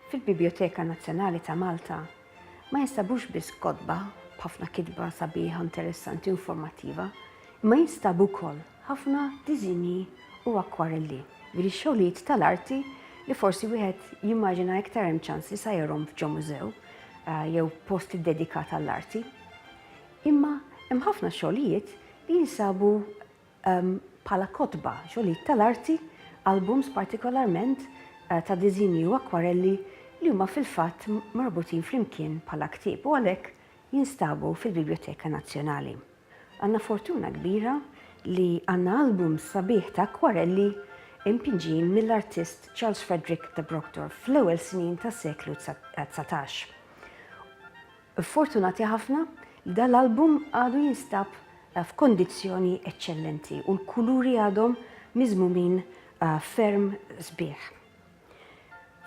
Fil-Bibjoteka Nazzjonali ta' Malta ma jinstabux biss kotba b'ħafna kitba sabiħa, interessanti u informattiva, imma jinstabu wkoll ħafna diżinji u akkwarelli, jiġifieri xogħlijiet tal-arti li forsi wieħed jimmaġina iktar hemm ċans li sajjarhom f'ġo mużew jew post iddedikat għall-arti. Imma hemm ħafna xogħlijiet li jinsabu bħala kotba, xogħlijiet tal-arti, albums partikolarment ta' diżinji u akkwarelli li huma fil-fatt marbutin flimkien bħala ktieb u għalhekk jinstabu fil-Bibljoteka Nazzjonali. Għandna fortuna kbira li għandna album sabiħ ta' akkwarelli impinġin mill-artist Charles Frederick de Brockdorff fl-ewwel snin tas-seklu dsatax. Fortunati ħafna li dan l-album għadu jinstab f'kondizzjoni eċċellenti u l-kuluri għadhom miżmumin ferm sbieħ.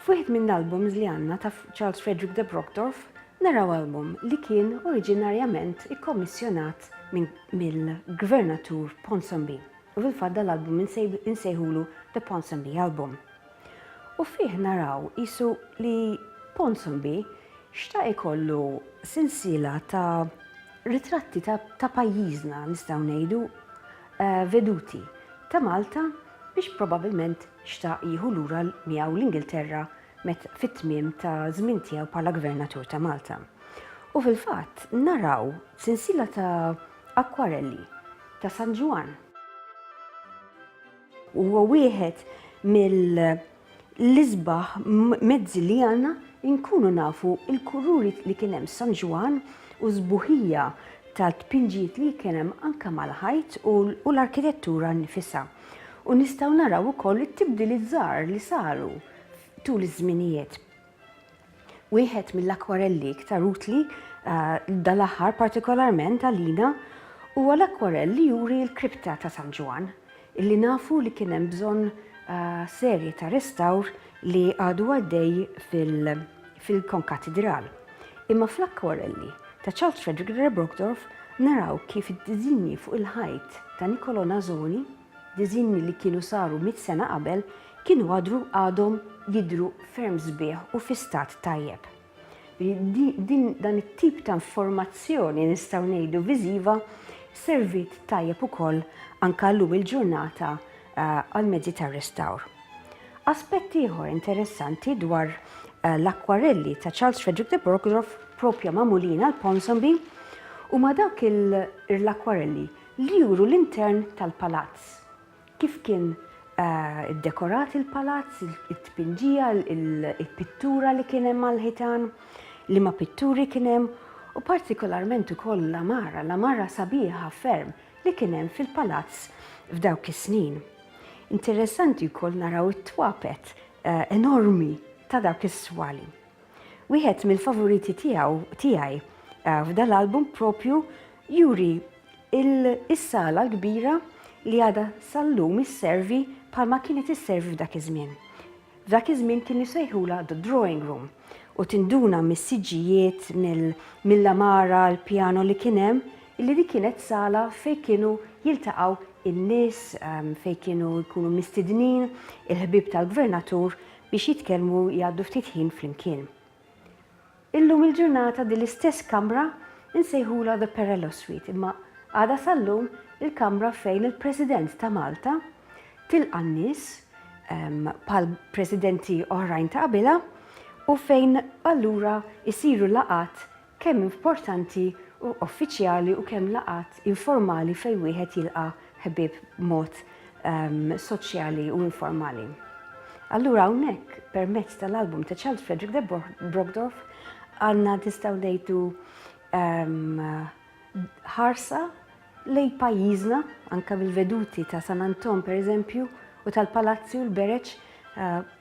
F'wieħed minn l-albums li għandna ta' Charles Frederick de Brockdorff naraw album li kien oriġinarjament ikkommissjonat mill-Gvernatur Ponsonby u fil-fatt dal-album insejħulu The Ponsonby Album. U fih naraw qisu li Ponsonby xtaq ikollu sensiela ta' ritratti ta' pajjiżna nistgħu ngħidu veduti ta' Malta biex probabilment xtaq jieħu lura miegħu l-Ingilterra met fit-tmiem ta' żmien tiegħu bħala Gvernatur ta' Malta. U fil-fatt naraw sensiela ta' akkwarelli ta' San Ġwann. Huwa wieħed mill-isbaħ mezzi li għandna nkunu nafu l-kuluri li kien hemm San Ġwann u s-sbuħija tat-tpinġijiet li kien hemm anke mal-ħajt u l-arkitettura nnifisha. U nistgħu naraw ukoll it-tibdiliet żgħar li saru tul iż-żminijiet. Wieħed mill-akwarelli iktar utli eh, dal-aħħar partikolarment għalina huwa l-akwarell li juri l-kripta ta' San Ġwan, illi nafu li kien hemm bżonn eh, serje ta' restawr li għadu għaddej fil- fil-konkatidral, imma fl-akkwarelli ta' Charles Frederick de Brockdorff naraw kif id-diżinji fuq il-ħajt ta' Niccolò Nasoni, diżinji li kienu saru mitt sena qabel, kienu għadru għadhom jidhru ferm sbieħ u fi stat tajjeb. Din dan it-tip ta' informazzjoni nistgħu ngħidu viżiva serviet tajjeb ukoll anke llum il-ġurnata għall-mezzi tar-restawr. Aspett ieħor interessanti dwar l-akkwarelli ta' Charles Frederick de Borgdorf proprja magħmulin għal Ponsonby huma dawk l-akkwarelli li juru l-intern tal-palazz, kif kien iddekorat il-palazz, it-tpinġija, il-pittura li kien hemm għall-ħitan, liema pitturi kien hemm, u partikolarment ukoll l-għamara, l-għamara sabiħa ferm li kien hemm fil-palazz f'dawk is-snin. Interessanti wkoll naraw it-twapet enormi ta' dawk is-swali. Wieħed mill-favoriti tiegħu tiegħi f'dan l-album propju juri is-sala l-kbira li għadha sal-lum isservi bħalma kienet isservi f'dak iż-żmien. F'dak iż-żmien kienu jsejħulha the drawing room u tinduna mis-siġġijiet, mill-għamara, l-pjano li kien hemm, illi dik kienet sala fejn kienu jiltaqgħu n-nies, fejn kienu jkunu mistidnin il-ħbieb tal-Gvernatur biex jitkellmu jgħaddu ftit ħin flimkien. Illum il-ġurnata din l-istess kamra insejħulha the Perello Suite imma għadha sal-lum il-kamra fejn il-President ta' Malta tilqa' n-nies bħal Presidenti oħrajn ta' qabilha u fejn allura jsiru laqgħat kemm importanti u uffiċjali u kemm laqgħat informali fejn wieħed jilqa' ħbieb b'mod soċjali u informali. Allura hawnhekk permezz tal-album ta' Charles Frederick de Brogdorf għandna tistgħu ngħidu ħarsa lej pajjiżna anka bil-veduti ta' San Anton pereżempju u tal-Palazzju l-Bereċ eh,